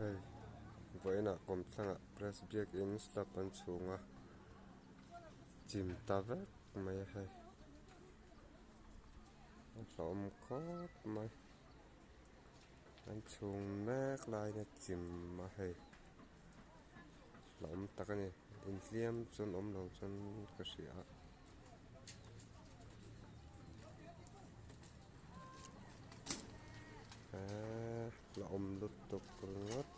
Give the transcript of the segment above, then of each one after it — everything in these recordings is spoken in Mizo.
Hei vawiinah kawm thlangah press biakin slab an chhung a chim ta vek mai a hei an hlauhawm khawp mai an chhung mek laia chim a hei hlauhawm tak a ni inthiam chuan awm lo chuan ka hria a. A awm lutuk ringawt.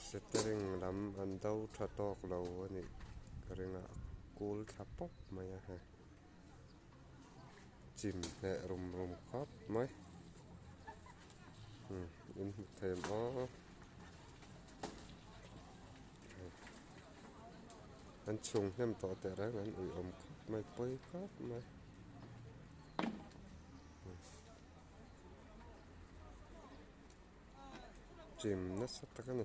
Setering lam an do tha tawk lo a nih ka ring a, a cool thla pawp mai a heh. Chim hneh rum rum khawp mai. Umm in hmu thei maw. an chhung hnem tawh teh reng an awm khawp mai pawi khawp mai chim nasa tak a ni.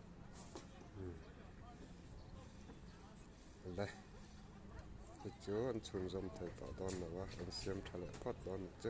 le chu chu an chhunzawm thei tawh dawn lo a an siam tha leh phawt dawn ang chu.